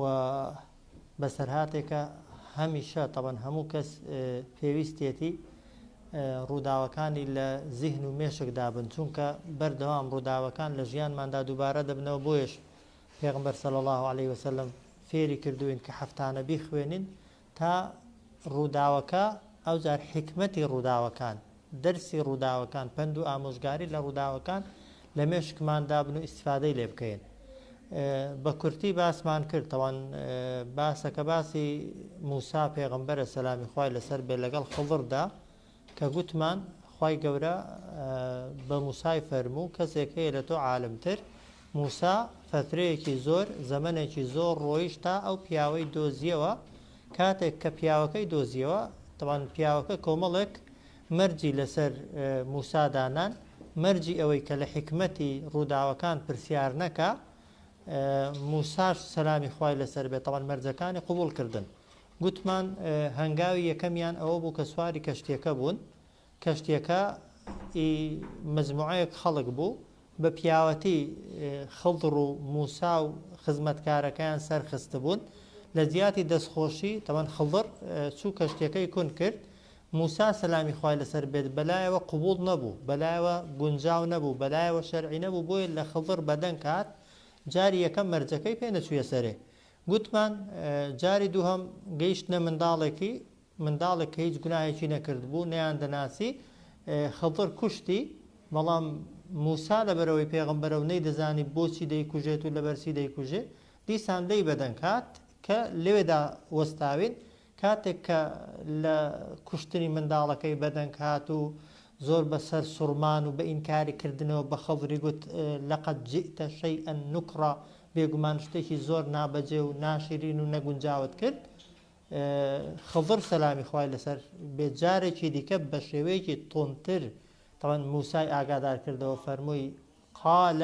و بەسەرهاتێکە هەمیشە تەبەن هەموو کەس پێویستێتی ڕووداوەکانی لە زیهن و مێشک دابن چونکە بەردەوام ڕووداوەکان لە ژیانماندا دووبارە دەبنەوە بۆیش پێغمبەر صلی الله علیه وسلم فێری کردوین کە هەفتانە بیخوێنین تا ڕووداوەکە، ئەوجار حیکمەتی ڕووداوەکان، دەرسی ڕووداوەکان، پەند و ئامۆژگاری لە ڕووداوەکان لە مێشکمان دابن و ئیستیفادەی لێ بکەین. بە کورتی باسمان کرد، تاوان باسەکە باسی مووسا پێغەمبەرە سەلامی خوای لەسەر بێت لەگەڵ خضردا، کە گوتمان خوای گەورە بە موسای فەرموو کەسێک هەیە لە تۆ عالمتر موسا فەترەیەکی زۆر زەمنێکی زۆر ڕۆیش تا ئەو پیاوەی دۆزیەوە کاتێک کە پیاوەکەی دۆزیەوە تەوان پیاوەکە کۆمەڵێک مەرجی لەسەر موسادانان مەرجی ئەوەی کە لە حکمەتی ڕووداوەکان پرسیار نەکە موساش سەلامی خوای لەسەر بێت تەوان مەرجەکانی قوبول کردن گوتمان هەنگاوی یەکەمیان ئەوە بوو کە سواری کەشتیەکە بوون، کەشتیەکە ئی مجموعەیەک خەڵک بوو، بە پیاوەتی خضر و موسا و خزمەتکارەکەیان سەر خستبوون، لە جیاتی دەستخۆشی تەبەن خضر چوو کەشتیەکەی کون کرد، موسا سەلامی خوای لەسەر بێت بەلایەوە قبوڵ نەبوو، بەلایەوە گونجاو نەبوو، بەلایەوە شەرعی نەبوو بۆیە لە خضر بەدەنگ هات، جاری یەکەم مەرجەکەی پێ نەچوویە سەرێ، گوتمان جاری دووهەم گەیشتنە منداڵێکی منداڵێک کە هیچ گوناهێکی نەکردبوو نەیان دەناسی خەڵدڕ کوشتی بەڵام موسا لە بەرەوەی پێغمبەرە و نەی دەزانی بۆچی دەیکوژێت و لەبەرسی دەیکوژێ دیسان لی بەدەنگ هات کە لەوێدا وەستاوین کاتێک کە لە کوشتنی منداڵەکەی بەدەنگ هات و زۆر بە سەر سوڕمان و بە ئینکاری کردنەوە بە خضری گوت، لقد جئت شیئا نکرا، بێگومان شتێکی زۆر نابەجێ و ناشیرین و نەگونجاوت کرد. خضر سەلامی خوای لەسەر بێت جارێکی دیکە بە شێوەیەکی توندتر تەبەن موسای ئاگادار کردەوە فەرمووی، قال،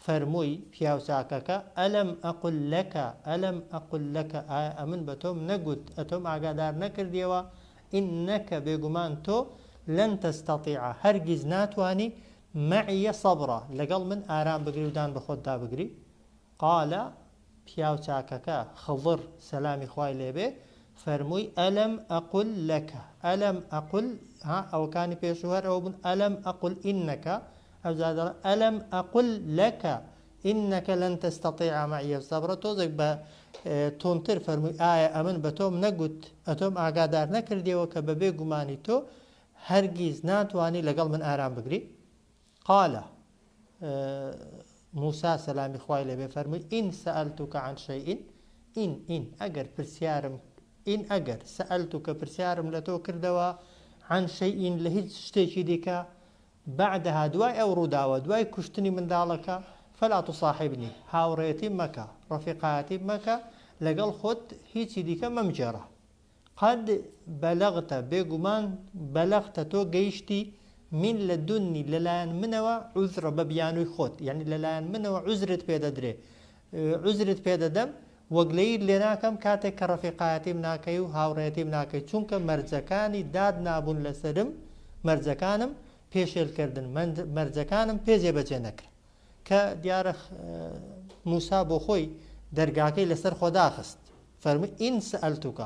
فەرمووی، پیاوچاکەکە، الم اقل لک، الم اقل لک، ئایا ئەمن بە تۆم نەگوت، ئەتۆم ئاگادار نەکردیەوە، انک، بێگومان تۆ، لن تستطیع، هەرگیز ناتوانی، معی صبرا، لەگەڵ من ئارام بگری و دان بە خۆتدا بگری؟ قال، پیاو چاکەکە، خضر، سەلامی خوای لێ بێ، فەرمووی، الم اقل لک، الم اقل، ها ئەوەکانی پێشوو هەر ئەوە بوون، الم اقل انک، ئەوجا دەڵێ، الم اقل لک انک لن تستطیع معی صبرا، تۆزێک بە توندتر فەرمووی، ئایا ئەمن بە تۆم نەگوت، ئەتۆم ئاگادار نەکردیەوە کە بەبێ گومانی تۆ هەرگیز ناتوانی لەگەڵ من ئارام بگری؟ قال، موسا، سەلامی خوای لێ بێ، فەرمووی، ان سالتک عن شیء، ان، ان، ئەگەر پرسیارم، ان، ئەگەر، سالتک، پرسیارم لە تۆ کردەوە، عن شیء، لە هیچ شتێکی دیکە، بعدها، دوای ئەو ڕووداوە، دوای کوشتنی منداڵەکە، فلا تصاحبنی، هاوڕێیەتیم مەکە، ڕەفیقایەتیم مەکە، لەگەڵ خۆت هیچی دیکە مەمگێڕە. قد بلغت بێگومان بلغت تۆ گەیشتی من لدنی لەلایەن منەوە عذرا بە بیانووی خۆت یعنی لەلایەن منەوە عوزرت پێ دەدرێ عوزرت پێ دەدەم وەگلەیت لێ ناکەم کاتێک کە ڕەفیقایەتیم ناکەی و هاوڕێتیم ناکەی چونکە مەرجەکانی داد نابوون لەسرم مەرجەکانم پێشێلکردن مەرجەکانم پێ جێبەجێ نەکرا کە دیارە موسا بۆ خۆی دەرگاکەی لەسەر خۆداخست فەرمووی، ان سالتک،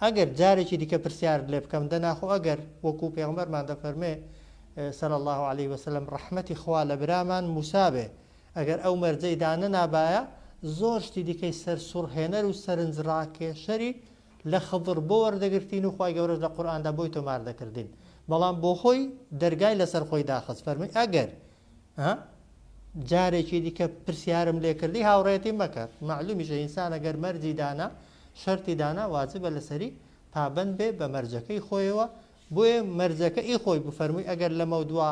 ئەگەر جارێکی دیکە پرسیارت لێ بکەم، دەنا خۆ ئەگەر، وەکو پێغەمبەرمان دەفەرموێ، صلی اللە علیە وسلم، ڕەحمەتی خوا لە برامان موسا بێ، ئەگەر ئەو مەرجەی دانەنابایە، زۆر شتی دیکەی سەرسوڕهێنەر و سەرنجڕاکێشەری لە خضر بۆ وەردەگرتین و خوای گەورەش لە قورئاندا بۆی تۆمار دەکردین، بەڵام بۆخۆی دەرگای لەسەر خۆی داخست، فەرمووی، ئەگەر، ها جارێکی دیکە پرسیارم لێ کردی هاوڕێتی مەکە معلومیشە ئینسان ئەگەر مەرجی دانا شەرتی دانا واجبە لەسەری پابند بێ بە مەرجەکەی خۆیەوە بۆیە مەرجەکە ئی خۆی بفەرمووی ئەگەر لەمە دوا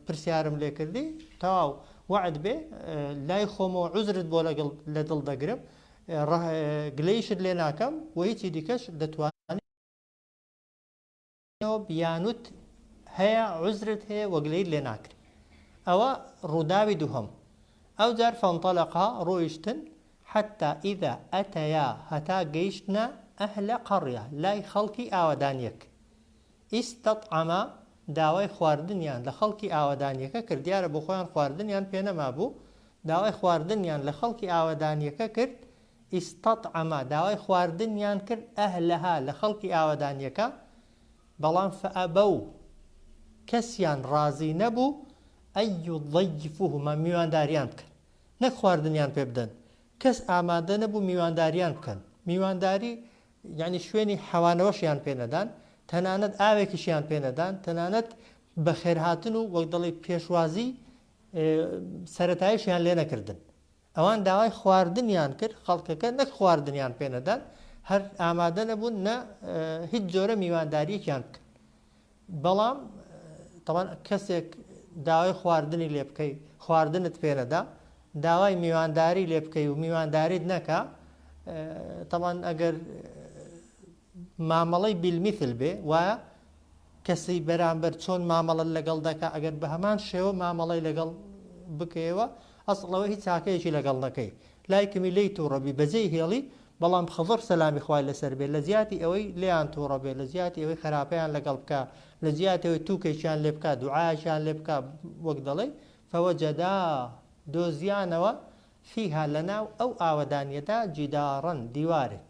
پرسیارم لێ کردی تاو وعد بێ لای خۆمەوە عزرت بۆ لەگەڵ لە دڵ دەگرم گلەیشت لێ ناکەم و هیچی دیکەش دەتوان بیانوت هەیە عوزرت هەیە وە گلەیت لێ ناکرێ ئەوە ڕووداوی دووهەم ئەوجار فەنتەلەقا ڕۆیشتن حەتا ئیدا ئەتەیا هەتا گەیشتنە ئەهلە قەڕیە لای خەڵکی ئاوەدانیەک ئیستەتعەما داوای خواردنیان لە خەڵکی ئاوەدانیەکە کرد دیارە بۆ خۆیان خواردنیان پێ نەمابوو داوای خواردنیان لە خەڵکی ئاوەدانیەکە کرد استطعم داوای خواردنیان کرد اهلها لە خەڵکی ئاوەدانیەکە بەڵام فابوا کەسیان ڕازی نەبوو ان یضیفوهما میوانداریان بکەن نەک خواردنیان پێ بدەن کەس ئامادە نەبوو میوانداریان بکەن میوانداری یانی شوێنی حەوانەوەشیان پێ نەدان تەنانەت ئاوێکیشیان پێ نەدان تەنانەت بەخێرهاتن و وەک دەڵی پێشوازی سەرەتایشیان لێ نەکردن ئەوان داوای خواردنیان کرد، خەڵکەکە نەک خواردنیان پێ نەدان، هەر ئامادە نەبوون نە هیچ جۆرە میوانداریەکیان بکەن. بەڵام تەوان کەسێک داوای خواردنی لێ بکەی خواردنت پێ نەدا، داوای میوانداری لێ بکەی و میوانداریت نەکا، تەوان ئەگەر مامەڵەی بالمثل بێ وایە کەسی بەرامبەر چۆن مامەڵە لەگەڵ دەکا ئەگەر بە هەمان شێوە مامەڵی لەگەڵ بکەیەوە ئەسڵەوە هیچ چاکەیەکی لەگەڵ نەکەی لای کمی لی تووڕەبی بەجێی هێڵی بەڵام خەزڕ سەلامی خوای لەسەر بێ لە جیاتی ئەوەی لیان تووڕە بێ لە جیاتی ئەوەی خراپیان لەگەڵ بکە لە جیاتەوەی تووکێکیان لێ بکە دوعاکیان لێ بکە وەک دەڵێ فەوەجەدا دۆزیانەوە فیها لە ناو ئەو ئاوەدانیەدا جیداڕن دیوارێک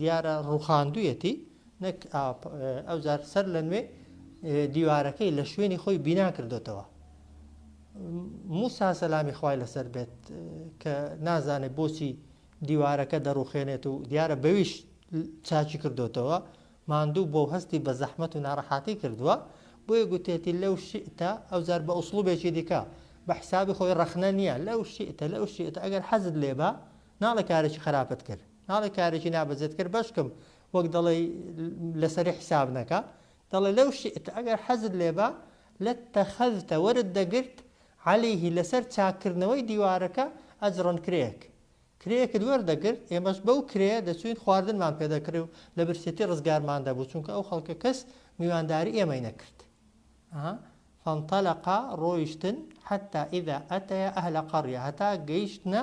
دیارە ڕوخاندویەتی نەک ئەوجار سەر لە نوێ دیوارەکەی لە شوێنی خۆی بینا کردوتەوە موسا سەلامی خوای لەسەر بێت کە نازانێت بۆچی دیوارەکە دەڕوخێنێت و دیارە بەویش چاچی کردوتەوە ماندوو بۆ هەستی بە زەحمت و ناڕەحاتی کردووە بۆیە گوتێتی لەو شئتە ئەوجار بە ئوسڵوبێکی دیکە بە حسابی خۆی ڕەخنە نییە لەو شئتە لەو شئتە ئەگەر حەزت لێبە ناڵە کارێکی خراپت کرد ناڵێ کارێکی نابەجێت کرد بەشکم وەک دەڵێی لەسەری حیساب نەکە دەڵێ لەو شئت ئەگەر حەزت لێبا لاتەخەذتە وەرت دەگرت عەلیه لەسەر چاککردنەوەی دیوارەکە ئەجڕەن کرێیەک کرێیەکت وەردەگرت ئێمەش بەو کرێیە دەچووین خواردنمان پێ دەکڕی و لە برسێتی ڕزگارمان دەبوو چونکە ئەو خەڵکە کەس میوانداری ئێمەی نەکرد ها فانطلقا ڕۆیشتن حتى اذا اتيا اهل قرية هەتا گەیشتنە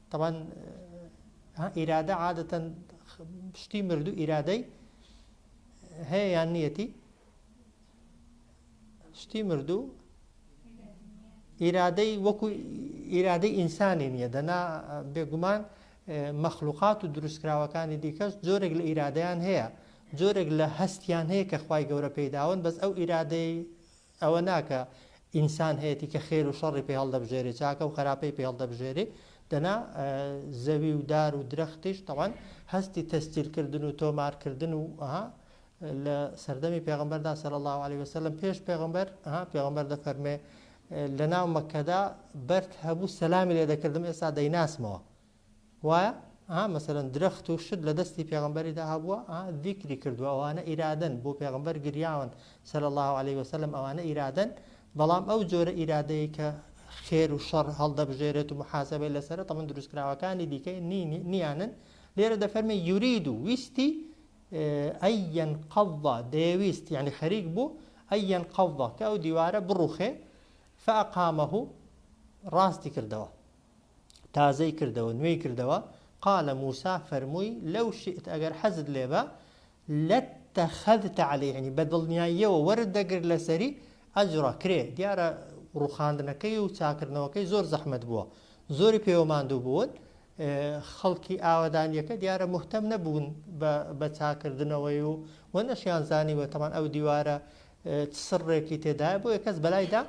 تەبان ئیرادە عادەتەن شتی مردوو ئیرادەی هەیە یان نیەتی شتی مردوو ئیرادەی وەکو ئیرادەی ئینسانی نییە دەنا بێگومان مەخلوقات و دروستکراوەکانی دیکەش جۆرێک لە ئیرادیان هەیە جۆرێک لە هەستیان هەیە کە خی گەورە پێداون بەس ئەو ئیرادەی ئەوە نا کە ئینسان هەیەتی کە خێر و شەڕی پێ هەڵدەبژێرێ چاکە و خەراپەی پێ هەڵدەبژێرێ دەنا زەوی و دار و درەختیش تەوان هەستی تەستیلکردن و تۆمارکردن و ئەها لە سەردەمی پێغمبەردا سەر الله عليه وسلم پێش پێغمبەر ئەها پێغمبەر دەفەرمێ لە ناو مەکەدا بەرد هەبوو سەلامی لێ دەکردم ئێستا دەیناسمەوە وایە ها مەسەرەن درەخت و شت لە دەستی پێغمبەریدا هەبووە ذیکری کردووە ئەوانە ئیرادەن بۆ پێغمبەر گریاون سەر الله عليه وسلم ئەوانە ئیرادەن بەڵام ئەو جۆرە ئیرادەیە کە خێر و شەڕ هەڵدەبژێرێت و محاسبەی لەسرە تەمن دروستکراوەکانی دیکە نیانن لێرە دەفەرمێ یورید و ویستی ئەیەن قەڵدا دەیەویست یعنی خەریک بوو ئەیەن قەڵدا کە ئەو دیوارە بڕوخێ فەقامەه ڕاستی کردەوە تازەی کردەوە نوێی کردەوە قال موسی فەرمووی لەو شئت ئەگەر حەزت لێ بە لەتەخەذت علی یعنی بە دڵنیاییەوە وەرت دەگرت لەسەری ئەجڕە کرێ دیارە ڕوخاندنەکەی و چاکردنەوەکەی زۆر زەحمەت بووە زۆری پێوە ماندوو بوون خەڵکی ئاوادانیەکە دیارە مهتەم نەبوون بە چاکردنەوەی و وە نەشیان زانیوە تەمان ئەو دیوارە سڕێکی تێدایە بۆ یە کەس بەلایدا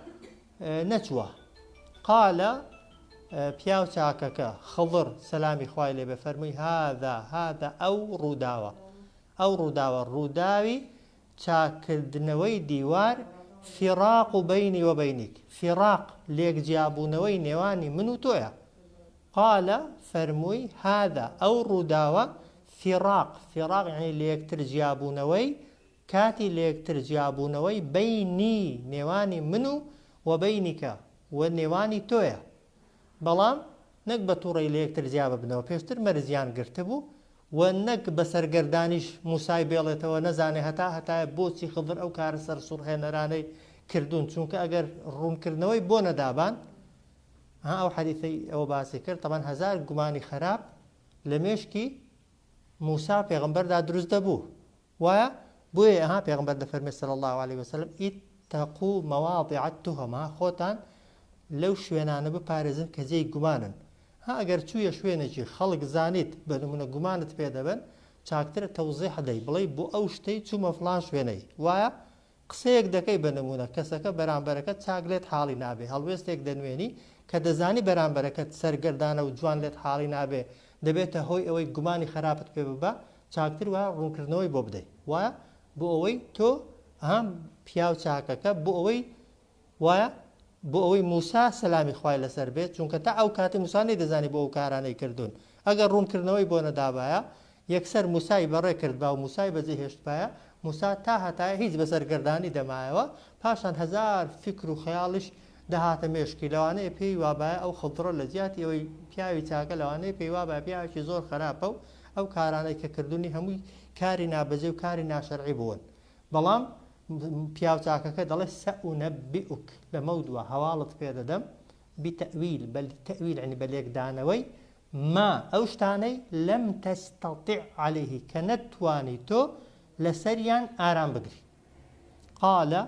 نەچووە قالە پیاو چاکەکە، خضر، سەلامی خوای لێ بێ فەرمووی هاذا هاذا ئەو ڕووداوە ئەو ڕووداوە ڕووداوی چاککردنەوەی دیوار فراق بینی وبینیک فراق لێک جیابوونەوەی نێوانی من و تۆیە قالە فەرمووی هاذا ئەو ڕووداوە فراق فراق یعنی لێکتر جیابوونەوەی کاتی لێکتر جیابوونەوەی بەینی نێوانی من و وە بەینیکە وە نێوانی تۆیە بەڵام نەک بە توڕەی لەیەکتر جیا ببنەوە پێشتر مەرجیان گرتبوو وە نەک بە سەرگەردانیش موسای بێڵێتەوە نەزانێ هەتا هەتایە بۆچی خضر ئەو کارە سەرسوڕهێنەرانەی کردوون چونکە ئەگەر ڕوونکردنەوەی بۆ نەدابان ها ئەو حەدیثەی ئەوە باسی کرد تەبەن هەزار گومانی خەراپ لە مێشکی موسا پێغمبەردا دروست دەبوو وایە بۆیە ها پێغەمبەر دەفەرمێت صلی اللە علیە وسلم اتقوا مواضع التهم ها خۆتان لەو شوێنانە بپارێزن کە جێی گومانن ها ئەگەر چوویە شوێنێکی خەڵک زانیت بە نمونە گومانت پێدەبن چاکترە تەوزیح دەی بڵێی بۆ ئەو شتەی چوومە فڵان شوێنەی وایە قسەیەک دەکەی بە نموونە کەسەکە بەرامبەرەکەت چاک لێت حاڵی نابێ هەڵوێستێک دەنوێنی کە دەزانی بەرامبەرەکەت سەرگەردانە و جوان لێت حاڵی نابێ دەبێتە هۆی ئەوەی گومانی خەراپت پێ ببا چاکتر وایە ڕوونکردنەوەی بۆ بدەی وایە بۆ ئەوەی تۆ ها پیاو چاکەکە بۆ ئەوەی وایە بۆ ئەوەی موسا سەلامی خوای لەسەر بێت چونکە تا ئەو کاتەی موسا نەیدەزانی بۆ ئەو کارانەی کردوون ئەگەر ڕوونکردنەوەی بۆ نەدابایە یەکسەر موسای بەڕێ کردبا و موسای بەجێ هێشتبایە موسا تا هەتایە هیچ بە سەرگەردانی دەمایەوە پاشان هەزار فکر و خەیاڵیش دەهاتە مێشکی لەوانەیە پێی وابایە ئەو خڵدڕە لە جیاتی ئەوەی پیاوی چاکە لەوانەیە پێی وابایە پیاوێکی زۆر خراپە و ئەو کارانەی کە کردوونی هەمووی کاری نابەجێ و کاری ناشەرعی بوون بەڵام پیاو چاکەکە دەڵێ سەئونەبیئوک لەمەودوا هەواڵت پێ دەدەم بتەویل بە تەویل عنی بە لێکدانەوەی ما ئەو شتانەی لەم تەستەطیع عەلەیه کە نەتتوانی تۆ لەسەریان ئارام بگری قالە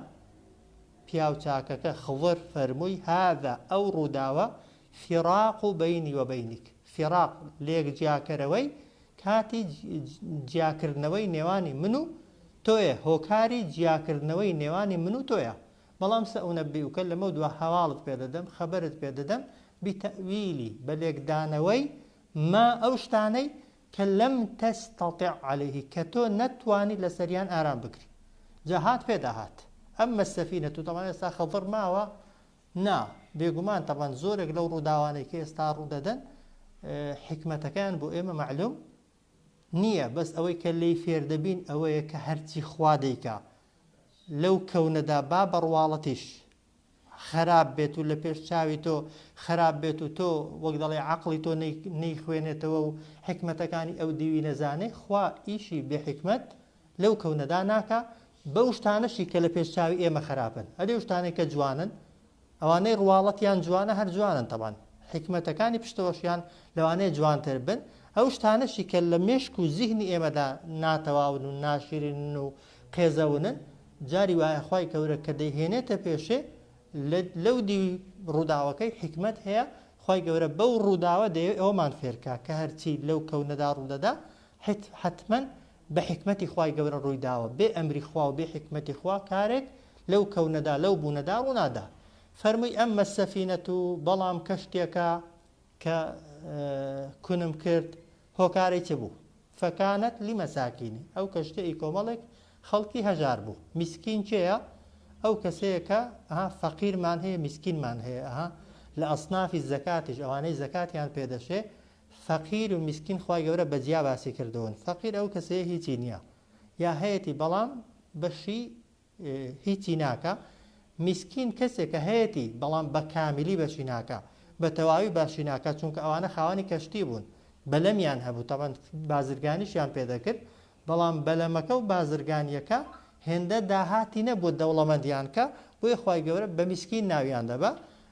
پیاو چاکەکە خضر فەرمووی هذا ئەو ڕووداوە فراق و بینی و بینیک فراق لێک جیاکەرەوەی کاتی جیاکردنەوەی نێوانی من و تۆیە هۆکاری جیاکردنەوەی نێوانی من و تۆیە بەڵام سەئونەبیئوکە لەمەو دوا هەواڵت پێ دەدەم خەبەرت پێ دەدەم بیتەئویلی بە لێکدانەوەی ما ئەو شتانەی کە لەم تەستەتع عەلەیه کە تۆ نەتوانی لەسەریان ئارام بگری جا هات پێدا هات ئەمە السەفینەتو تەبعەن ئێستا خەضر ماوە نا، بێگومان تەبعەن زۆرێک لەو ڕووداوانەی کە ئێستا ڕوودەدەن حیکمەتەکەیان بۆ ئێمە مەعلوم نییە بەس ئەوەی کە لێی فێردەبین ئەوەیە کە هەرچی خوا دەیکا لەو کەونەدا با بەڕواڵەتیش خراپ بێت و لە پێش چاوی تۆ خراپ بێت و تۆ وەک دەڵێ عقلی تۆ نەیخوێنێتەوە و حکمتەکانی ئەو دیوی نەزانێ خوا ئیشی بێحکمت لەو کەونەدا ناکە بەو شتانەشی کە لە پێش چاوی ئێمە خەراپن ئەدی ئەو شتانەی کە جوانن ئەوانەی ڕواڵەتیان جوانە هەر جوانن تەبان حیکمەتەکانی پشتەوەشیان لەوانەیە جوانتر بن ئەو شتانەشی کە لە مێشک و زیهنی ئێمەدا ناتەواون و ناشیرنن و قێزەونن جاری وایە خوای کەورە کە دەیهێنێتە پێشێ لەو دیوی ڕووداوەکەی حیکمەت هەیە خوای گەورە بەو ڕووداوە دەیەوێت ئەوەمان فێرکە کە هەرچی لەو کەونەدا ڕوودەدا حتمەن بە حیکمەتی خوای گەورە ڕووی داوە، بێ ئەمری خوا و بێ حیکمەتی خوا کارێک لەو کەونەدا، لەو بوونەدا ڕوو نادا. فەرمووی، ئەممە السفینە، بەڵام کەشتێکە کە کونم کرد، هۆکارەی چ بوو؟ فکانت لمساکین، ئەو کەشتیە ئی کۆمەڵێک خەڵکی هەژار بوو. میسکین کێیە؟ ئەو کەسەیە کە، ئەها، فەقیرمان هەیە، میسکینمان هەیە، ئەها، لە اصناف الزکاتیش، ئەوانەی زەکاتیان پێ دەشێ، فەقیر و میسکین خوای گەورە بە جیا باسی کردوون فەقیر ئەو کەسەیە هیچی نییە یا هەیەتی بەڵام بەشی هیچی ناکە میسکین کەسێکە هەیەتی بەڵام بە کامیلی بەشی ناکە بە تەواوی باشی ناکە چونکە ئەوانە خاوانی کەشتی بوون بەلەمیان هەبوو تەبەن بازرگانیشیان پێدەکرد بەڵام بەلەمەکە و بازرگانیەکە هێندە داهاتی نەبوو دەوڵەمەندیان کە بۆی خی گەورە بە میسکین ناویان دەبە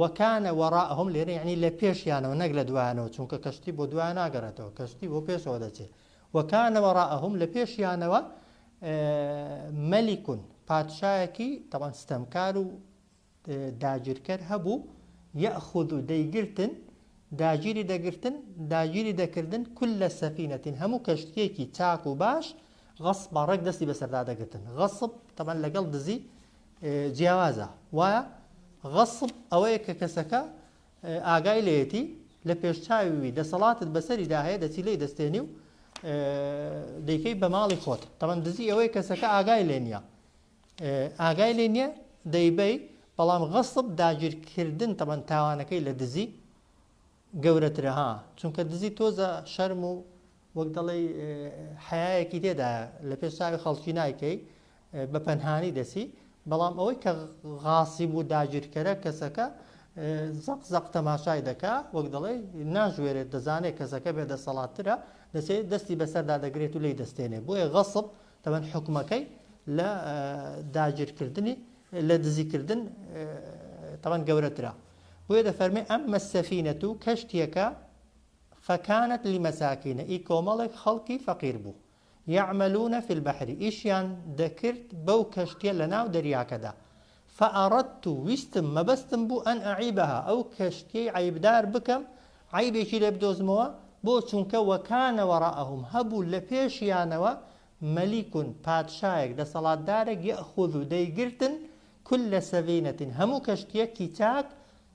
وکان وراءهم لێرە یەعنی لە پێشیانەوە نەک لە دوایانەوە چونکە کەشتی بۆ دوایان ناگەڕێتەوە کەشتی بۆ پێشەوە دەچێت وکان وراءهم لە پێشیانەوە مەلیکون پادشایەکی تەوان ستەمکار و داگیرکەر هەبوو یەخود و دەیگرتن داگیری دەگرتن داگیری دەکردن کل لە سەفینەتین هەموو کەشتێکی چاک و باش غەصب بەڕێک دەستی بەسەردا دەگرتن غەصب تەمان لەگەڵ دزی جیاوازە وایە غەصب ئەوەیە کە کەسەکە ئاگای لێتی لە پێش چاوی دەسەڵاتت بەسەری داهەیە دەچی لی دەستێنی و دەیکەی بە ماڵی خۆت تەمەن دزی ئەوەی کەسەکە ئاگای لێ نیە ئاگای لێ نیە دەیبەی بەڵام غەصب داگیرکردن تەمەن تاوانەکەی لە دزی گەورەترە ها چونکە دزی تۆزە شەرم و وەک دەڵێ حەیەکی تێدایە لە پێش چاوی خەڵکی نایکەی بە پەنهانی دەسی بەڵام ئەوەی کە غاسی بوو داگیرکەرە کەسەکە زەق زەق تەماشای دەکا وەک دەڵێ ناژوێرێت دەزانێت کەسەکە بێ دەسەڵاتترە دەچێت دەستی بەسەردا دەگرێت و لی دەستێنێ بۆیە غەسب تەمەەن حکومەکەی لە داگیرکردنی لە دزیکردن تەمەەن گەورەترە بۆیە دەفەرمێ، ئەمە السفینەت و کەشتیەکە فەکانەت لمساکین ئی کۆمەڵێک خەڵکی فەقیر بوو یعملون فی البحر ئیشیان دەکرد بەو کەشتیە لەناو دەریاکەدا فاردت ویستم مەبەستم بوو ان اعیبها ئەو کەشتیەی عەیبدار بکەم عەیبێکی لێ بدۆزمەوە بۆ چونکە وکان وراءهم هەبوو لەپێشیانەوە ملیک پادشایەک دەسەڵاتدارێک یاخوذ دەیگرتن کل سفینە هەموو کەشتیەکی چاک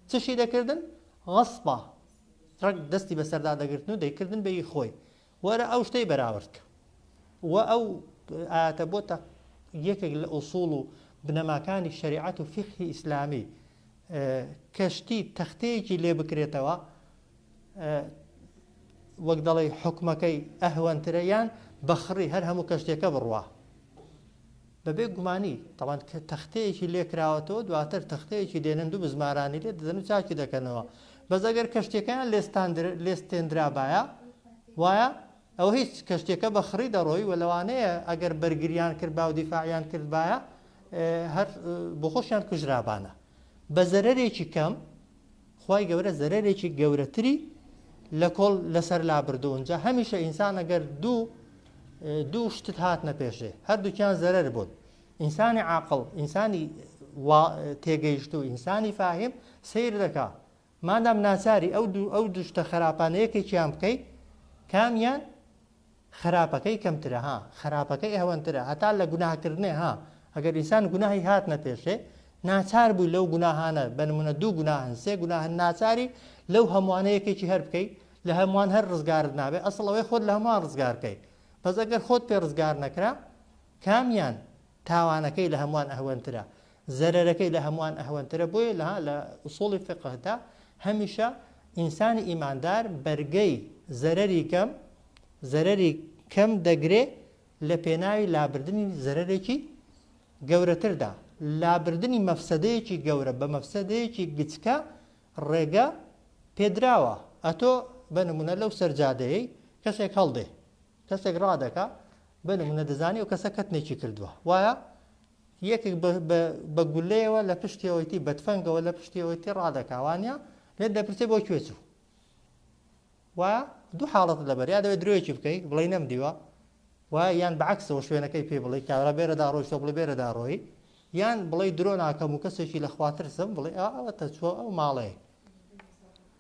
چشی دەکردن غصبا ڕەگ دەستی بەسەردا دەگرتن و دەیکردن بەی خۆی وەرە ئەو شتەی بەراورد کە و ئەو ئاتە بۆتە یەکێک لە ئووسڵ و بنەماکانی شریعەت و فقهی ئیسلامی کەشتی تەختەیەکی لێ بکرێتەوە وەک دەڵێی حکمەکەی ئەهوەنترە یان بەخڕی هەر هەموو کەشتێکە بڕوا بەبێ گومانی تەوان کە تەختەیەکی لێکراوەتەوە دواتر تەختەیەکی دێنن دوو بزمارانی لێ دەدەن و چاکی دەکەنەوە بەس ئەگەر کەشتەکەیان لێستان لێستێنرابایە وایە ئەوە هیچ کەشتێکە بە خڕی دەڕۆی و لەوانەیە ئەگەر بەرگریان کرد با و دیفاعیان کردبایە هەر بۆ خۆشیان کوژرابانە بە زەرەرێکی کەم خوای گەورە زەرەرێکی گەورەتری لە کۆڵ لەسەر لابردو ئونجا هەمیشە ئینسان ئەگەر دوو دوو شتت هات نەپێشێ هەردووکیان زەرەر بوون ئینسانی عاقل ئینسانی تێگەیشت و ئینسانی فاهیم سیر دەکا مادام ناچاری ئەو دوو ئەو دوشتە خراپانەیەکێکیان بکەیت کامیان خەراپەکەی کەمترە ها خەراپەکەی ئهوەنترە هەتا لە گوناه کردنێ ها ئەگەر ئینسان گوناهی هاتنە پێشێ ناچار بووی لەو گوناهانە بە نمونە دوو گوناهن سێ گوناهن ناچاری لەو هەموانە یەکێکی هەر بکەی لە هەموان هەر ڕزگارت نابێ ئەسڵ ئەوەی خۆت لە هەموان ڕزگار کەی بەس ئەگەر خۆت پێ ڕزگار نەکرا کامیان تاوانەکەی لە هەموان ئەهوەنترە زەرەرەکەی لە هەموان ئەهوەنترە بۆیە لە لە ئوسوڵی فقهدا هەمیشە ئینسانی ئیماندار بەرگەی زەرەری کەم زەرەری کەم دەگرێ لە پێناوی لابردنی زەرەرێکی گەورەتردا لابردنی مەفسەدەیەکی گەورە بە مەفسەدەیەکی گچکە ڕێگە پێدراوە ئەتۆ بە نمونە لەو سەرجادەیەی کەسێک هەڵدێ کەسێک ڕادەکا بە نمونە دەزانی و کەسە کەتنێکی کردووە وایە یەکێک بە گولەیەوە لە پشتیەوەیتی بەتفەنگەوە لە پشتیەوەیتی ڕادەکاوانە لێت دەپرسێ بۆ کوێ چوو وا دوو حاڵەت لەبەر یا دەوێت درۆیەکی بکەیت بڵی نەم دیوە و یان بەعکسەوە شوێنەکەی پێ بڵی کارە بێرەدا ڕۆیشتە بڵێ بێرەدا ڕۆی یان بڵی درۆ ناکەم و کەسێکی لە خواترسم بڵێ ئەوە تەچوە ئەو ماڵەیە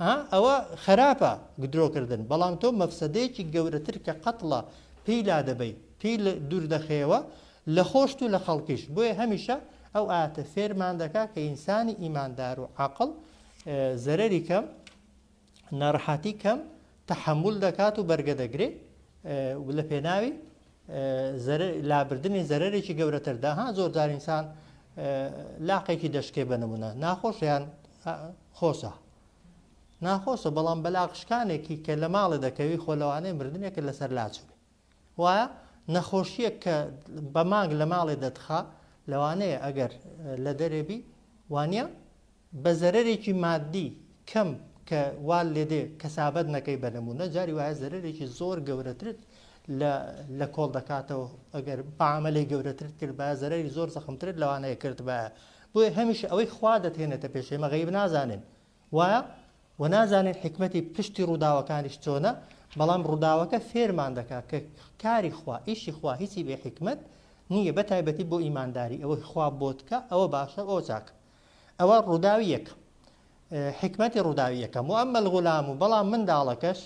ئەها ئەوە خەراپە درۆ کردن بەڵام تۆ مەفسەدەیەکی گەورەتر کە قەتڵە پێی لادەبەی پێی دوور دەخەیەوە لە خۆشت و لە خەڵکیش بۆیە هەمیشە ئەو ئاتە فێرمان دەکا کە ئینسانی ئیماندار و عاقڵ زەرەری کەم ناڕەحەتی کەم تەحەمول دەکات و بەرگە دەگرێ و لە پێناوی لابردنی زەرەرێکی گەورەتردا ها زۆرجار ئینسان لاقێکی دەشکێ بە نمونە ناخۆشیان خۆشە ناخۆشە بەڵام بەلاقشکانێکی کە لە ماڵێ دەکەوی خۆ لەوانەیە مردنێکە لەسەر لاچێ وایە نەخۆشیە کە بە مانگ لە ماڵێ دەتخا لەوانەیە ئەگەر لە دەرێبی وانە بە زەرەرێکی ماددی کەم کە وا لێدێ کەسابەت نەکەی بە نموونە جاری وایە زەرەرێکی زۆر گەورەترت لە لە کۆڵ دەکاتەوە ئەگەر بەعاملەی گەورەترت کرد بە زەرەری زۆر زەخمترت لەوانەیە کرد بە بۆیە هەمیشە ئەوەی خوا دەتێنێتە پێشێ مەغیب نازانن وایە و نازانین حکمەتی پشتی ڕووداوەکانیش چۆنە بەڵام ڕووداوەکە فێرمان دەکات کە کاری خوا ئیشی خوا هیچی بێ حکمت نییە بە تایبەتی بۆ ئیمانداری ئەوەی خوا بۆتکە ئەوە باشە ئەو چاکە ئەوە ڕووداوی یەکەم حکمەتی ڕووداوی یەکەم و ئەمە غولام و بەڵام منداڵەکەش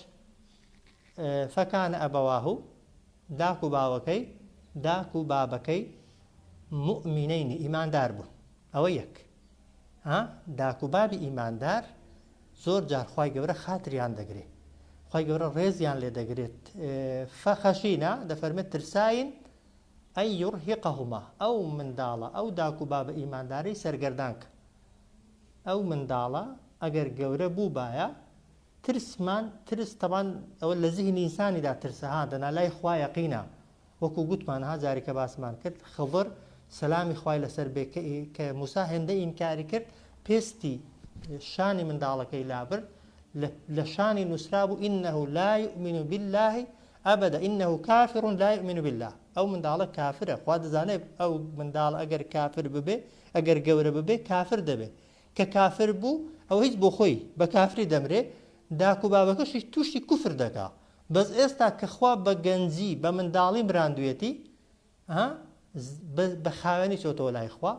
فەکانە ئەبەواه و داک و باوەکەی داک و بابەکەی مؤمنینی ئیماندار بوون ئەوە یەک داک و بابی ئیماندار زۆر جارخوای گەورە خاتریان دەگرێت خی گەورە ڕێزیان لێ دەگرێت فەخەشینە دەفەرمێت ترساین ان یرهقهما، ئەو منداڵە، ئەو داک و بابە ئیماندارەی سەرگەردان کە. ئەو منداڵە ئەگەر گەورە بووبایە، ترسمان، ترس تەبان ئەوە لە زیهنی ئینسانیدا ترسە ها، دەنا لای خوا یەقینە، وەکو گوتمان ها جارێ کە باسمان کرد، خضر، سەلامی خوای لەسەر بێ، کە ئی، کە موسا هێندە ئینکاری کرد، پێستی شانی منداڵەکەی لابرد، لە، لە شانی نووسرابوو، انه لا یومن باللە، ابدا انه کافر لا یومن باللە ئەو منداڵە کافرە خوا دەزانێ ئەو منداڵە ئەگەر کافر ببێ ئەگەر گەورە ببێ کافر دەبێ کە کافر بوو ئەوە هیچ بۆ خۆی بە کافری دەمرێ داک و بابەکەشی توشی کوفر دەکا بەس ئێستا کە خوا بە گەنجی بە منداڵی مراندویەتی ها بە خاوێنی چۆتەوە لای خوا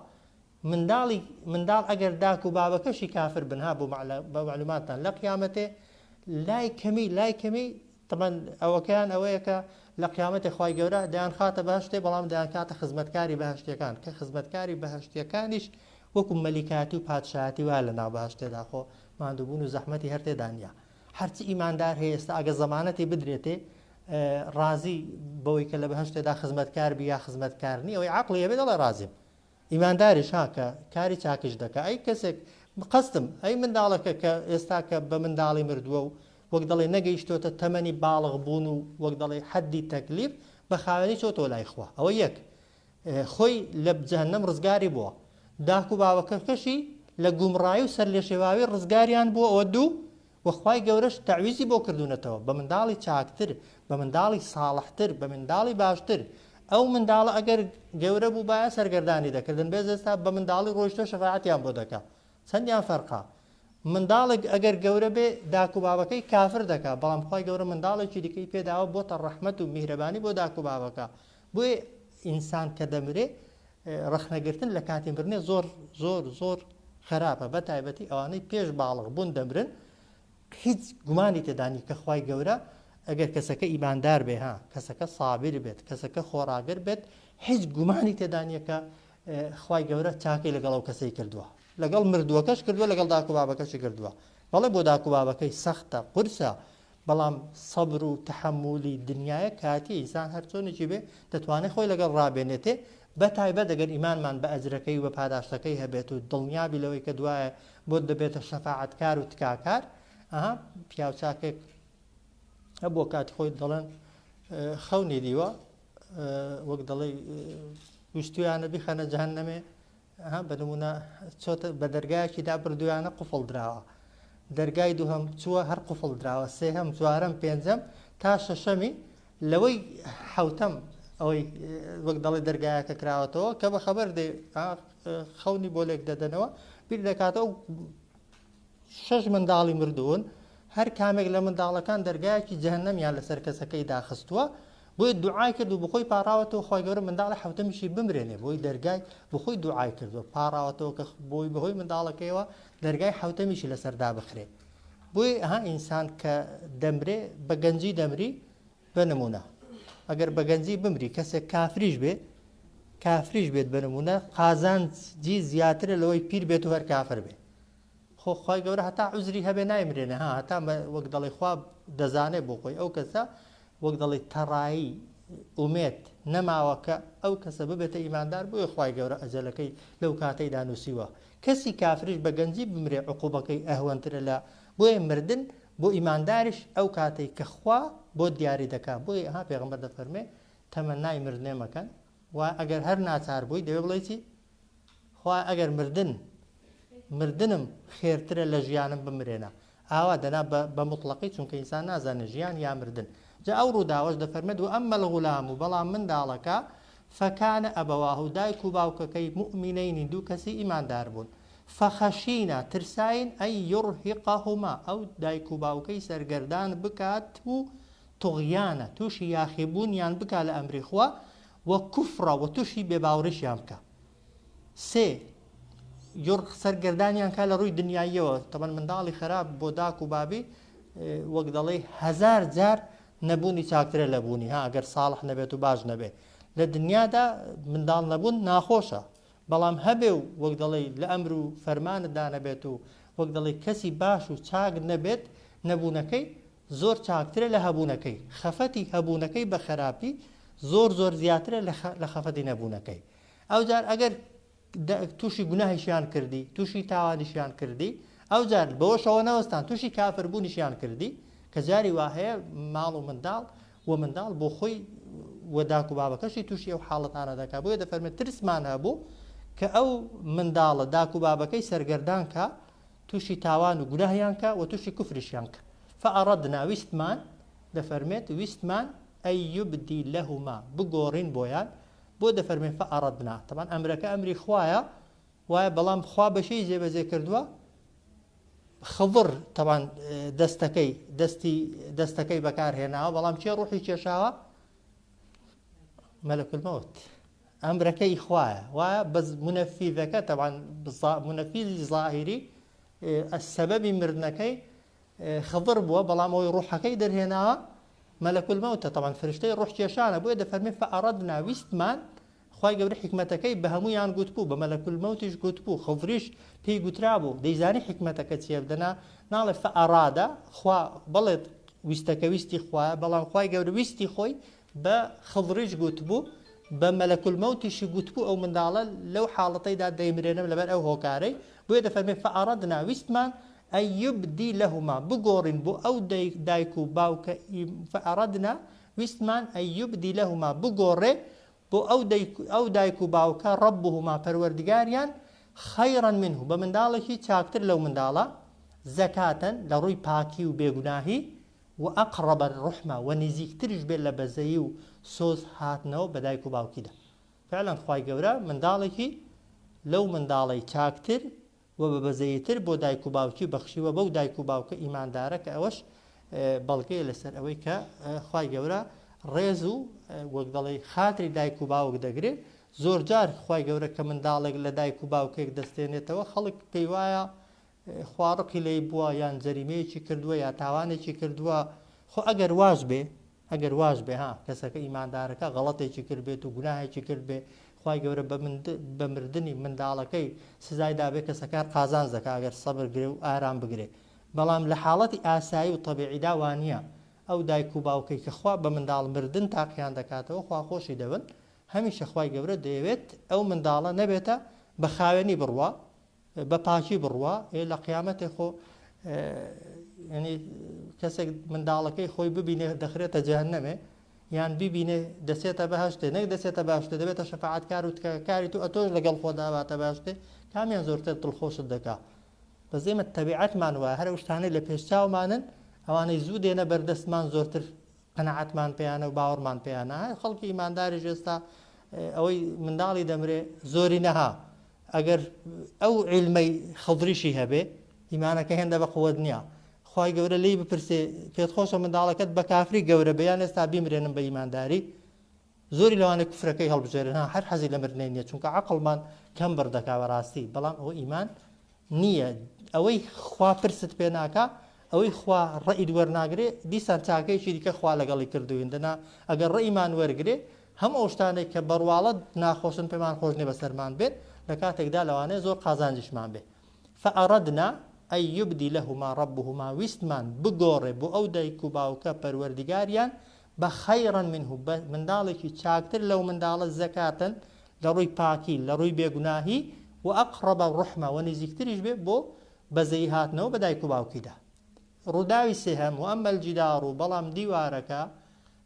منداڵی منداڵ ئەگەر داک و بابەکەشی کافر بنها بۆ بە معلوماتان لە قیامەتێ لای کەمی لای کەمی تەمان ئەوەکەیان ئەوەیە کە لە قیامەتی خی گەورە دەیان خاتە باششتێ بەڵام دەیان کاتە خزمەتکاری بەهشتەکان کە خزمەتکاری بەهشتەکانیش وەکو مەلیکاتی و پادشایەتی وا لە ناوباشتێدا خۆ مادووبوون و زەحمەتی هەرتێدانە هەرچی ئیماندار هەیە ئێستا ئەگە زەمانەتی بدرێتێ ڕازی بەوەی کە لە بەهەشتێدا خزمەتکار بی یا خزمەتکار نی ئەوەی عەقڵی هەبێ دەڵێ ڕازیم ئیمانداریش ها کە کاری چاکیش دەکا ئەی کەسێک قەستم ئەی منداڵەکە کە ئێستا کە بە منداڵی مردووە و وەک دەڵێ نەگەیشتۆتە تەمەنی باڵغ بوون و وەک دەڵێ حەدی تەکلیف بە خاوێنی چۆتۆ لای خوا ئەوە یەک خۆی لە جەهەنەم ڕزگاری بووە داک و باوەکەکەشی لە گومڕایی و سەرلێشێواوی ڕزگاریان بووە ئەوە دوو وەخوای گەورەش تەویزی بۆ کردوونەتەوە بە منداڵی چاکتر بە منداڵی ساڵحتر بە منداڵی باشتر ئەو منداڵە ئەگەر گەورە بوو باە سەرگەردانی دەکردن بێ زێستا بە منداڵی ڕۆیشتە شەفاعتیان بۆ دەکە چەندیان فەرقا منداڵێک ئەگەر گەورە بێ داک و بابەکەی کافر دەکا بەڵام خی گەورە منداڵێکی دیکەی پێداوە بۆتە ڕەحمت و میهرەبانی بۆ داک و بابەکە بۆیە ئینسان کە دەمرێ ڕەخنەگرتن لە کاتی مرنێ زۆر زۆر زۆر خراپە بە تایبەتی ئەوانەی پێش باڵغ بوون دەمرن هیچ گومانی تێدانی کە خی گەورە ئەگەر کەسەکە ئیماندار بێ ها کەسەکە سابیر بێت کەسەکە خۆراگر بێت هیچ گومانی تێدانیەکە خی گەورە چاکەی لەگەڵ ئەو کەسەی کردووە لەگەڵ مردووەکەش کردووە لەگەڵ داکو بابەکەشی کردووە بەڵێ بۆ داکو بابەکەی سەختە قورسە بەڵام سەبر و تەحەمولی دنیایە کاتیە ئیسان هەر چۆنێکی بێ دەتوانێ خۆی لەگەڵ ڕابێنێتێ بە تایبەت ئەگەر ئیمانمان بە ئەجرەکەی و بە پاداشتەکەی هەبێت و دڵنیابی لەوەی کە دوایە بۆت دەبێتە شەفاعەتکار و تکاکار ئەها پیاوچاکێک هەبووە کاتی خۆی دەڵێن خەونی دیوە وەک دەڵێ ویستویانە بیخەنە جەهەنەمێ ها بە نموونە چۆتە بە دەرگایەکی دا بردوویانە قوفڵ دراوە دەرگای دووهەم چووە هەر قوفڵ دراوە سێهەم جوارەم پێنجەم تا شەشەمی لەوەی حوتەم ئەوەی وەک دەڵی دەرگایەکە کراوەتەوە کە بە خەبەر دێ خەونی بۆ لێک دەدەنەوە بیر دەکاتەوە شەش منداڵی مردوون هەر کامێک لە منداڵەکان دەرگایەکی جەهنەمیان لەسەر کەسەکەی داخستووە بۆی دوعای کرد و بخۆی پاڕاوەتەوە خۆی گەورە منداڵی حوتەمیشی بمرێنێ بۆی دەرگای بخۆی دوعای کردووە پاڕاوەتەوە کە بۆی بەهۆی منداڵەکەیەوە دەرگای حوتەمیشی لەسەردا بخرێت بۆی ها ئینسان کە دەمرێ بە گەنجی دەمری بە نمونە ئەگەر بە گەنجی بمری کەسێک کافریش بێت کافریش بێت بە نمونە قازانجی زیاترە لەوەی پیر بێت و هەر کافر بێت خۆ خی گەورە هەتا عزری هەبێ نایمرێنە ها هەتا وەک دەڵی خوا دەزانێت بۆ خۆی ئەو کەسە وەک دەڵی تەڕایی ئومێت نەماوە کە ئەو کەسە ببێتە ئیماندار بۆی خی گەورە ئەجەلەکەی لەو کاتەی دانوسیوە کەسی کافریش بە گەنجی بمرێ عقوبەکەی ئەهوەنترە لە بۆیە مردن بۆ ئیمانداریش ئەو کاتەی کە خوا بۆت دیاری دەکات بۆیە ها پێغەمبەر دەفەرمێ تەمەنای مردنێ مەکەن و ئەگەر هەر ناچار بووی دەوێ بڵێ چی خوا ئەگەر مردن مردنم خێرترە لە ژیانم بمرێنە ئاوا دەنا بە مطلقی چونکە ئینسان نازانێ ژیان یا مردن جا ئەو ڕووداوەش دەفەرمێت و ئەم مەلغولام و بەڵام منداڵەکە فەکانە ئەبەواه و دایک و باوکەکەی مؤمنینی دوو کەسی ئیماندار بوون فخشینا ترساین ان یرهقهما ئەو دایک و باوکەی سەرگەردان بکات و طغیانا توشی یاخی بوونیان بکا لە ئەمری خوا و کفرا و توشی بێ باوریشیان بکا سێ یڕ سەرگەردانیان کا لە ڕووی دنیاییەوە تەبەن منداڵی خراپ بۆ داک و بابی وەک دەڵێ هزار جار نەبوونی چاکترە لە بوونی ها گەر ساڵح نەبێت و باش نەبێت لە دنیادا منداڵ نەبوون ناخۆشە بەڵام هەبێ و وەک دەڵێی لە ئەمر و فەرمانت دا نەبێت و وەک دەڵێی کەسی باش و چاک نەبێت، نەبوونەکەی زۆر چاکترە لە هەبوونەکەی. خەفەتی هەبوونەکەی بە خەراپی زۆر زۆر زیاترە لە خەفەتی نەبوونەکەی. ئەوجار ئەگەر تووشی گوناهیشیان کردی، تووشی تاوانیشیان کردی، ئەوجار بەوەشەوە نەوەستان تووشی کافربوونیشیان کردی، کە جاری وا هەیە ماڵ و منداڵ وە منداڵ بۆ خۆی وە داک و بابەکەشی تووشی ئەو حاڵەتانە دەکا بۆیە دەفەرمێت ترسمان هەبوو کە ئەو منداڵە داک و بابەکەی سەرگەردان کە تووشی تاوان و گوناهیان کە وە تووشی کوفریشیان کە فەئەڕەدنا ویستمان دەفەرمێت ویستمان ئەی یبدی لەهما بگۆڕین بۆیان بۆ دەفەرمێن فەئەڕەدنا تەبان ئەمرەکە ئەمری خوایە وایە بەڵام خوا بەشێی جێبەجێ کردووە خضر تەوان دەستەکەی دەستی دەستەکەی بەکارهێناوە بەڵام چێ ڕوحی کێشاوە مەلەکلمەوت ئەمرەکەی خوایە وا بەس منەفیدەکە تەوان منەفیدی ظاهری سەبەبی مردنەکەی خضر بووە بەڵام ئەوی ڕوحەکەی دەرهێناوە مەلەکلمەوتە تەوان فرشتەی ڕوح کێشانە بۆیە دەفەرمی فعرەدنا ویستمان خوای گەورە حیکمەتەکەی بە هەموویان گوتبوو، بە مەلەک الموتیش گوتبوو، خضریش پێی گوترابوو، دەیزانی حیکمەتەکە چییە، دەنا ناڵێ فارادە، خوا بڵێت ویستەکە ویستی خوایە، بەڵام خوای گەورە ویستی خۆی بە خضریش گوتبوو، بە مەلەک الموتیشی گوتبوو ئەو منداڵە لەو حاڵەتەیدا دەیمرێنم لەبەر ئەو هۆکارەی، بۆیە دەفەرمێ فاردنا، ویستمان، ان یبدی لهما، بگۆڕین بۆ ئەو دایک و باوکە، فاردنا، ویستمان، ان یبدی لهما، بگۆڕێ بۆ ئەو دایک و باوکە، ربهما، پەروەردگاریان، خیرا منه، بە منداڵێکی چاکتر لەو منداڵە، زکاة، لە ڕووی پاکی و بێگوناهی، واقرب الرحمە، وە نزیکتریش بێت لە بەزەیی و سۆز هاتنەوە بە دایک و باوکیدا. فعلا خوای گەورە منداڵێکی لەو منداڵەی چاکتر وە بە بەزەیی تر بۆ دایک و باوکی بەخشیوە بەو دایک و باوکە ئیماندارە کە ئەوەش بەڵگەیە لەسەر ئەوەی کە خوای گەورە ڕێز و وەک دەڵێ خاتری دایک و باوک دەگرێ زۆر جار خوای گەورە کە منداڵێک لە دایک و باوکێک دەستێنێتەوە خەڵک پێی وایە خواڕقی لی بووە یان جەریمەیەکی کردووە یا تاوانێکی کردووە خۆ ئەگەر واش بێ ئەگەر واش بێ ها کەسەکە ئیماندارەکە غەڵەتێکی کرد بێت و گوناهێکی کرد بێ خوای گەورە بە من بە مردنی منداڵەکەی سزای دابێ کەسەکار قازانج دەکا ئەگەر سەبر گرێ و ئارام بگرێ بەڵام لە حاڵەتی ئاسایی و تەبیعیدا وانە ئەو دایک و باوکەی کە خوا بە منداڵ مردن تاقیان دەکاتەوە خوا خۆشی دەبن هەمیشە خوای گەورە دەیەوێت ئەو منداڵە نەبێتە بە خاوێنی بڕوا بە پاکی بڕوا ئێ لە قیامەتێ خۆ ینی کەسێک منداڵەکەی خۆی ببینێ دەخرێتە جیان نەمێ یان ببینێ دەسێتە بەهشتێ نەک دەسێتە باشتە دەبێتە شەفاعات کار و تکەکاری تو ئەتۆش لەگەڵ خۆداواتە باشتێ کامیان زۆرتر دڵخۆشت دەکا بە زێمە تەبیعەتمان وە هەرە شتانەی لە پێشچاومانن ئەوانەی زوو دێنە بەردەستمان زۆرتر قەنەعاتمان پێیانە و باوەڕمان پێیانە خەڵکی ئیمانداری ژێستا ئەوەی منداڵی دەمرێ زۆری نەها ئەگەر ئەو عیلمەی خەضریشی هەبێ ئیمانەکە هێندە بە قوت نییە خی گەورە لی بپرسێ پێت خۆشە منداڵەکەت بە کافری گەورە بیان ئێستا بیمرێنم بە ئیمانداری زۆری لەوانە کوفرەکەی هەڵبژێرن هەر حەزی لە مردنی نیە چونکە عقلمان کەم بردەکا بەڕاستی بەڵام ئەو ئیمان نییە ئەوەی خوا پرست پێ ناکە ئەوەی خوا ڕئید وەرناگرێ دیسان چاکەیەکی دیکە خوا لەگەڵی کردوین دەنا ئەگەر ڕئیمان وەرگێ هەموو ئەو شتانەی کە بەڕواڵەت ناخۆشن پێمان خۆش نیە بەسەرمان بێن لە کاتێکدا لەوانەیە زۆر قازانجیشمان بێ فاردنا ان یبدلهما ربهما ویستمان بگۆڕێ بۆ ئەو دایک و باوکە پەروەردگاریان بە خیرا منه بە منداڵێکی چاکتر لەو منداڵە زەکاتەن لە ڕووی پاکی لە ڕووی بێگوناهی و اقرب رحمە و نزیکتریش بێ بۆ بەزەیی هاتنەوە بە دایک و باوکیدا ڕووداوی سێهەم واما الجدار بەڵام دیوارەکە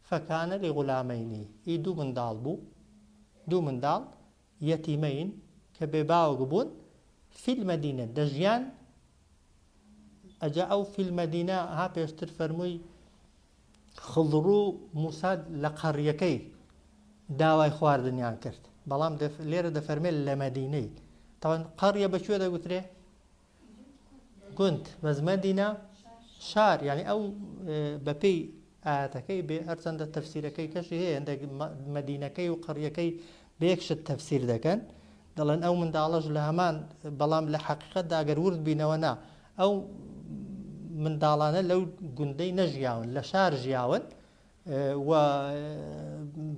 فکان لغلامەینی، ی دوو منداڵ بوو، دوو منداڵ، یەتیمەین، کە بێ باوک بوون، فی المدینە، دەژیان، ئەجا ئەو فی المدینە ها پێشتر فەرمووی خضڕو موسا لە قەڕیەکەی داوای خواردنیان کرد، بەڵام لێرە دەفەرمێت لە مەدینەی، تاوان قەڕیە بە کوێ دەگوترێ؟ گوند مەزمەندی نا شار یعنی ئەو بەپێی ئاەتەکەی بێ هەرچەندە تەفسیرەکەی کەشی هەیە هەندێک مدینەکەی و قڕیەکەی بێکشت تەفسیر دەکەن دەڵێن ئەو منداڵەش لە هەمان بەڵام لە حقیقت داگەر ورد بینەوە نا ئەو منداڵانە لەو گوندەی نەژیاون لە شار ژیاون و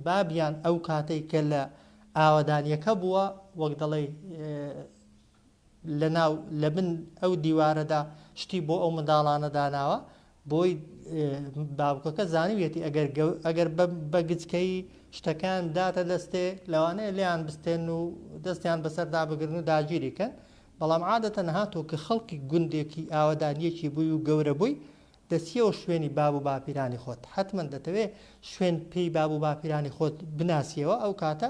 بابیان ئەو کاتەی کە لە ئاوادانیەکە بووە وەک دەڵێ لەناو لەبن ئەو دیوارەدا شتی بۆ ئەو منداڵانە داناوە بۆی باوکەکە زانیویەتی ئەگەر ئەگەر بە گچکەی شتەکان داتە دەستێ لەوانەیە لیان بستێن و دەستیان بەسەردا بگرن و داگیری کەن بەڵام عادەتەن هاتۆ کە خەڵکی گوندێکی ئاوەدانیەکی بووی و گەورە بووی دەسیەوە شوێنی باب و باپیرانی خۆت حتمما دەتەوێ شوێن پێی باب و باپیرانی خۆت بناسیەوە ئەو کاتە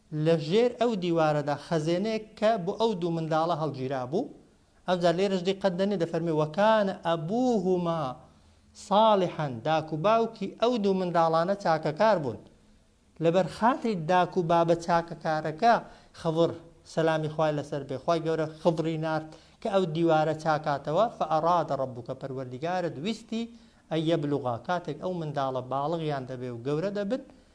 لە ژێر ئەو دیوارەدا خەزێنەیەک کە بۆ ئەو دوو منداڵە هەڵگیرابوو، ئەوجا لێرەش دیقەت دەنێ دەفەرمێ، وکان ابوهما صالحا داک و باوکی ئەو دوو منداڵانە چاکەکار بوون. لەبەر خاتری داک و بابە چاکەکارەکە خضر، سەلامی خوای لەسەر بێ، خوای گەورە خضری نارد کە ئەو دیوارە چاکاتەوە، فاراد ربک پەروەردیگارت ویستی، ان یبلغا کاتێک ئەو منداڵە باڵغیان دەبێ و گەورە دەبن،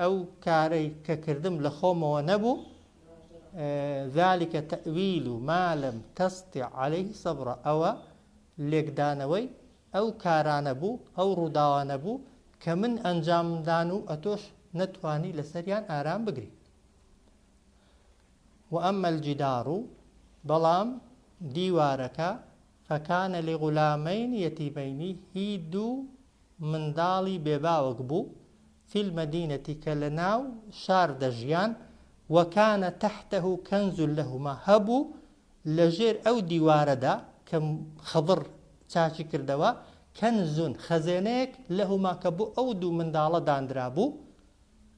ئەو کارەی کە کردم لە خۆمەوە نەبوو ذلك تەویل و مالم تەستی عليه سەبرە ئەوە لێکدانەوەی ئەو کارانە بوو ئەو ڕووداوانە بوو کە من ئەنجامدان و ئەتۆش نەتوانی لەسەریان ئارام بگری و ئەمەل جیدار و بەڵام دیوارەکە فکان لغلامین یتیمین هی دوو منداڵی بێ باوک بوو فی المدینە کە لە ناو شار دەژیان وکان تحته کنز لهما هەبوو لە ژێر ئەو دیوارەدا کە خضر چاکی کردەوە کنز خەزێنەیەک لهما کە بۆ ئەو دوو منداڵە داندرابوو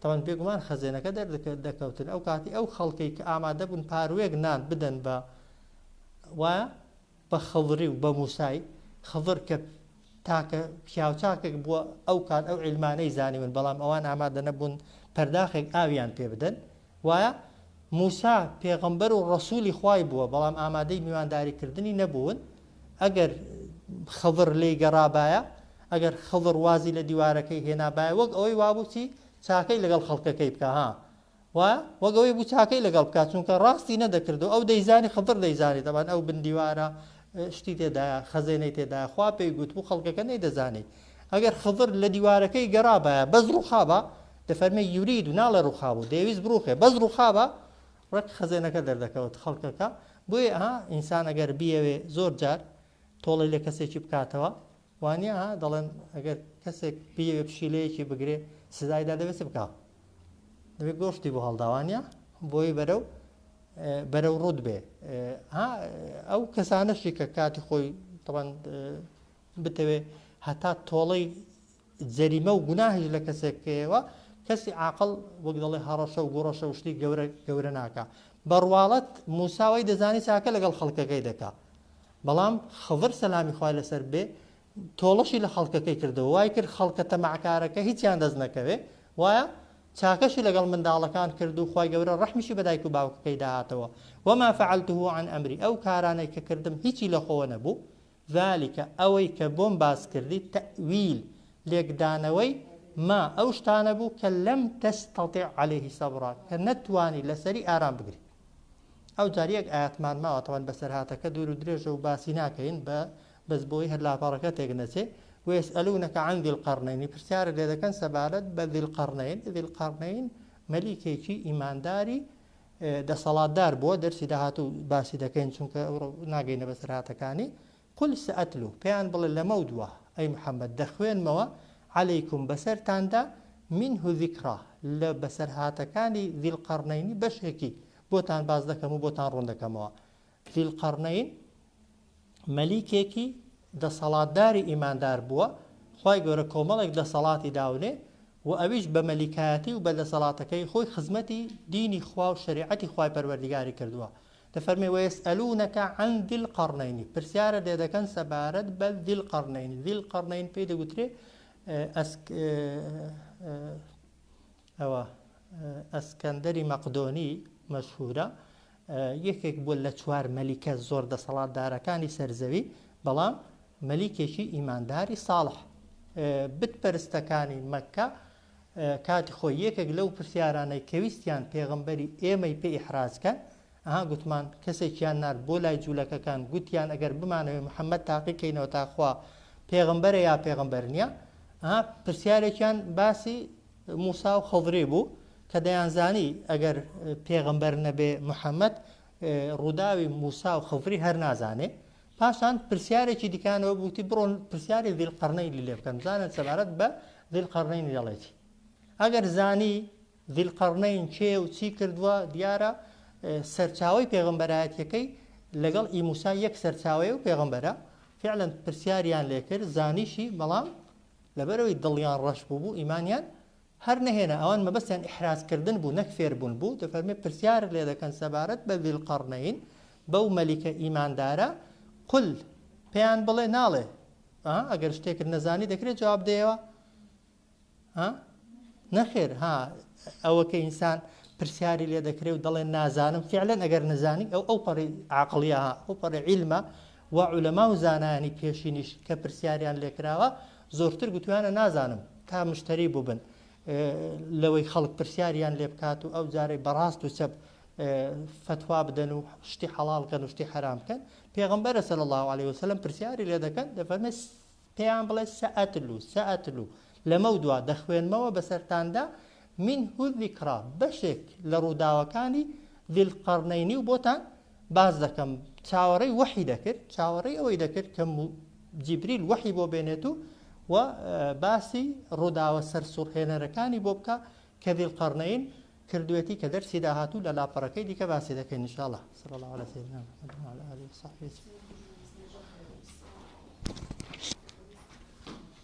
تەبەن بێگومان خەزێنەکە دەردەکەوتن ئەو کاتی ئەو خەڵکەی کە ئامادە بوون پاروێک نان بدەن بە وایە بە خەڵری و بە موسای خەڵر کە تاکە پیاوچاکێک بووە ئەو کات ئەو علمانەی زانیون بەڵام ئەوان ئامادە نەبوون پەرداخێک ئاویان پێ بدەن وایە موسا پێغەمبەر و ڕسوولی خوای بووە بەڵام ئامادەی میوانداریکردنی نەبوون ئەگەر خضر لێی گەڕابایە، ئەگەر خضر وازی لە دیوارەکەی هێنابایە، وەک ئەوەی وابوو چی چاکەی لەگەڵ خەڵکەکەی بکا ها وا وەک ئەوەی بوو چاکەی لەگەڵ بکات چونکە ڕاستی نەدەکرد و ئەو دەیزانی خضر دەیزانی دەبان ئەو بندیوارە شتی تێدایە خەزێنەی تێدایە خوا پێی گوت بوو خەڵکەکە نەیدەزانی ئەگەر خضر لە دیوارەکەی گەڕابایە بەس ڕوخابە دەفەرمێ یورید و ناڵێ ڕوخابوو دەیویست بڕوخێ بەس ڕوخابە ڕەق خەزێنەکە دەردەکەوت خەڵکەکە بۆیە ها ئینسان ئەگەر بیەوێ زۆر جار تۆڵەی لە کەسێکی بکاتەوە وانە ها دەڵێن ئەگەر کەسێک بیەوێ پشیلەیەکی بگرێ سزایدا دەبێت بکە دەبێت گۆشتی بۆ هەڵداوانە بۆی بەرە و بەرە و ڕوود بێ ئەو کەسانەشی کە کاتی خۆی تەوان بتەوێ هەتا تۆڵەی جەریمە و گوناهیش لە کەسێک بکەیەوە، کەسی عاقڵ وەک دەڵێ هەڕەشە و گوڕەشە و شتی گەورە گەورە ناکا. بە ڕواڵەت موسا وەی دەزانی چاکە لەگەڵ خەڵکەکەی دەکا. بەڵام خضر سەلامی خوای لەسەر بێ تۆڵەشی لە خەڵکەکەی کردەوە، وای کرد خەڵکە تەماعکارەکە هیچیان دەست نەکەوێ، وایە؟ چاکەشی لەگەڵ منداڵەکان کرد و خوای گەورە ڕەحمیشی بە دایک و باوکەکەی داهاتەوە، وما فعلته عن امری، ئەو کارانەی کە کردم هیچی لە خۆوە نەبوو، ذلک، ئەوەی کە بۆم باس کردیت، تەئویل، لێکدانەوەی، ما، ئەو شتانە بوو کە، لەم تەستەتیع عەلەیه سەبرا، کە نەتوانی لەسەری ئارام بگریت. ئەوجار یەک ئایەتمان ماوە، تەبعەن بەسەرهاتەکە دوور و درێژە و باسی ناکەین، بە بەس بۆی هەر لاپەڕەکە تێک نەچێ، ویسئەلونەک عن ذی القرنین، پرسیارت لێ دەکەن سەبارەت بە ذی القرنین، ذی القرنین مەلیکێکی ئیمانداری دەسەڵاتدار بۆ دەرسی داهاتوو باسی دەکەین چونکە ئەوڕۆ ناگەینە بەسەرهاتەکانی قل سئتلو پێیان بڵێ لەمەو دوا ئەی محمد دەخوێنمەوە علیکم بەسەرتاندا منه ذکرا لە بەسەرهاتەکانی ذی القرنینی بەشێکی بۆتان باس دەکەم و بۆتان ڕوون دەکەمەوە ذیلقەڕنەین مەلیکێکی دەسەڵاتداری ئیماندار بووە، خوای گەورە کۆمەڵێک دەسەڵاتی داونێ و ئەویش بە مەلیکایەتی و بە دەسەڵاتەکەی خۆی خزمەتی دینی خوا و شەریعەتی خوای پەروەردیگاری کردووە، دەفەرمێ ویسئەلونەک عن ذی القرنین پرسیارت لێ دەکەن سەبارەت بە ذیلقەڕنەین، ذیلقەڕنەین پێی دەگوترێ ئەوە ئەسکەندەری مەقدۆنی مەشهورە یەکێک بووە لە چوار مەلیکە زۆر دەسەڵاتدارەکانی سەرزەوی بەڵام مەلیکێکی ئیمانداری ساڵح بتپەرستەکانی مەکە کاتی خۆی یەکێک لەو پرسیارانەی کەویستیان پێغمبەری ئێمەی پێ ئیحرازکەن ئەها گوتمان کەسێکیان نرد بۆ لای جوولەکەکان گوتیان ئەگەر بمانەوەی محەممەد تاقیکەینەوە تاخوا پێغمبەرە یا پێغمبەر نییە ئەها پرسیارێکیان باسی موسا و خضری بوو کە دەیانزانی ئەگەر پێغەمبەر نەبێ محەممەد ڕووداوی موسا و خضری هەر نازانێ پاشان پرسیارێکی دیکانەوە بوتی بڕۆن پرسیاری دیل قڕنەی لێ بکەن زانن سەبارەت بە دیل قڕنەی دەڵێتی ئەگەر زانی دیل قڕنەین کێ و چی کردووە دیارە سەرچاوی پێغمبەرایەتەکەی لەگەڵ ئی موسا یەک سەرچاوەیە و پێغمبەرە فعلەن پرسیاریان لێکرد زانیشی بەڵام لەبەرئەوەی دڵیان ڕەش بووبوو ئیمانیان هەر نەهێنا ئەوان مەبەستیان ئیحراز کردن بوو نەک فێربوون بوو دەفەرمێ پرسیارت لێ دەکەن سەبارەت بە ذیلقەڕنەین بەو مەلیکە ئیماندارە قل پێیان بڵێ ناڵێ ها ئەگەر شتێکت نەزانی دەکرێت جواب دەیەوە ها نەخێر ها ئەوە کە ئینسان پرسیاری لێ دەکرێ و دەڵێن نازانم فعلەن ئەگەر نەزانی ئەو ئەو پەڕی عقلیە ئەو پەڕی عیلمە و عولەما و زانایانی پێشینیش کە پرسیاریان لێکراوە زۆرتر گوتویانە نازانم تا مشتەری بووبن لەوەی خەڵک پرسیاریان لێ بکات و ئەو جارەی بەڕاست و چەپ فتوا بدەن و شتی حەڵال کەن و شتی حرام کەن پێغمبەرە سەر الله عليه وسلم پرسیاری لێ دەکەن دەفەرمێت پێیان بڵێ سەئەتلو، سەئەتلو، لەمەودوا دەخوێنمەوە بەسەرتاندا، منه الذکری، بەشێک لە ڕووداوەکانی ذی القرنینی و بۆتان باس دەکەم، چاوەڕێی وەحی دەکرد، چاوەڕێی ئەوەی دەکرد کە جیبریل وەحی بۆ بێنێت و و باسی ڕووداوە سەرسوڕهێنەرەکانی بۆ بکا کە ذی القرنین کردوێتی کە دەرسی داهاتوو لە لاپەڕەکەی دیکە باسی دەکەین ان شاء الله صلی الله علی سیدنا محمد و علی آله و صحبه